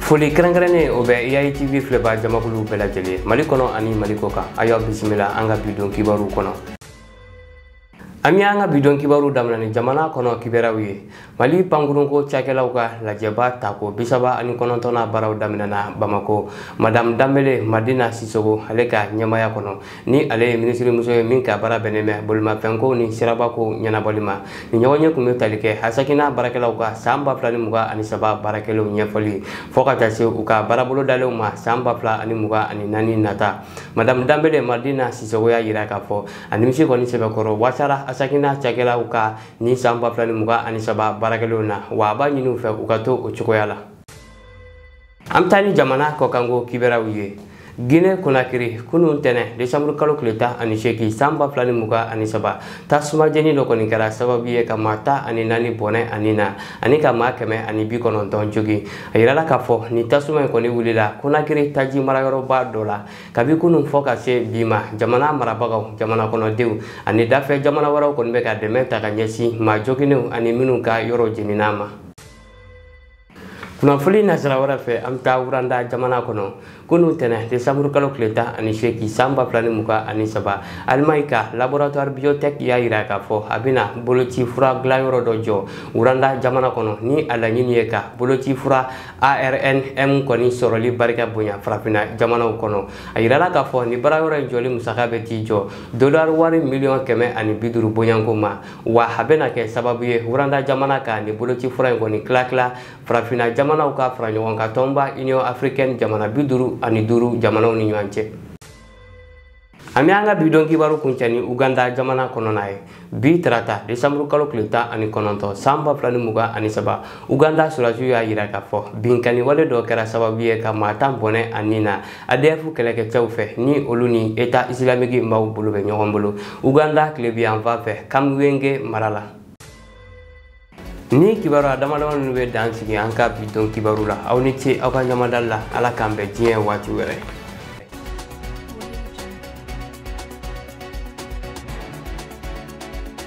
foli kɛrɛnkɛrɛnnen o bɛ eyayi tv filɛbaa jamakulu bɛɛ lajɛlen mali kɔnɔ ani mali kɔ kan a y'aw bisimila an ka bidon kibaru kɔnɔ an bɛ an ka bidon kibaru daminɛ ni jamana kɔnɔ kibaruyaw ye mali pankurunko cakɛlaw ka lajɛba tako bisaba ani kɔnɔntɔnna baaraw daminɛna bamako madame danbele madina sisogo ale ka ɲɛmaya kɔnɔ ni ale ye minisirimuso ye min ka baara bɛnnen bɛ bolimafɛnko ni sirabako ɲɛnabɔli ma ni ɲɔgɔnye kun bɛ tali kɛ asecna baarakɛlaw ka san ba fila ni mugan ani saba baarakɛlenw ɲɛfɔli fɔ ka taa se u ka baarabolo dalenw ma san ba fila ani mugan ani naani nata madamu danbele madina sisogo y'a yira k'a fɔ a nimisi kɔni sɛbɛkɔrɔ wasara asecna cakɛlaw ka ni san ba fila ni mugan ani saba baarakɛlenw na wa a b'a ɲini u fɛ u ka to o cogoya la an bɛ taa ni jamana kɔkanko kibaruyaw ye gine konakiri kunun tɛnɛ desanburu kalo tile tan ani seegin san ba fila ni mugan ani saba tasuma jeni dɔ kɔni kɛra sababu ye ka maa tan ani naani bɔnɛ a ni na ani ka maa kɛmɛ ani bi kɔnɔntɔn jogin a yirala k'a fɔ ni tasuma in kɔni wulila konakiri taji marayɔrɔba dɔ la kabi kunun fɔ ka se bi ma jamana marabagaw jamana kɔnɔdenw ani dafɛ jamana wɛrɛw kɔni bɛ ka dɛmɛ ta ka ɲɛsin maa joginnenw ani minnu ka yɔrɔ jeninna ma kunnafoni nasira wɛrɛ fɛ an bɛ taa wuranda jamana kɔnɔ kunun tɛnɛ desanburu kalo tile tan ani seegin san ba fila ni mugan ani saba alimaɲi ka laboratwari biotɛki y'a yira k'a fɔ a bɛna boloci fura dilanyɔrɔ dɔ jɔ wuranda jamana kɔnɔ ni a laɲini ye ka boloci fura arnm kɔni sɔrɔli barika bonya farafinna jamanaw kɔnɔ a yirala k'a fɔ ni baarayɔrɔ in jɔli musaka bɛ t'i jɔ dolari wari miliyɔn kɛmɛ ani bi duuru bɔɲɔgɔnko ma wa a bɛna kɛ sababu ye wuranda jamana ka nin boloci fura in kɔni tilatila farafinna jamanaw ka fara ɲɔgɔn kan tɔnba union africaine jamana bi duuru ani duuru jamanaw ni ɲɔgɔn cɛ an bɛ an ka bi don kibaru kuncɛ ni uganda jamana kɔnɔna ye bi tarata desanburu kalo tile tan ani kɔnɔntɔn san ba fila ni mugan ani saba uganda sɔrɔdasiw y'a yira k'a fɔ binkanni wale dɔ kɛra sababu ye ka maa tan bɔnɛ a ni na adf kɛlɛkɛcɛw fɛ ni olu ni eta isilamiki maaw bolo bɛ ɲɔgɔn bolo uganda tilebinyanfan fɛ kamwenge mara la ni kibaruya damadama ninnu bɛ dan sigi an ka bi don kibaru la aw ni ce aw ka ɲamadali la ala k'an bɛn diɲɛ waati wɛrɛ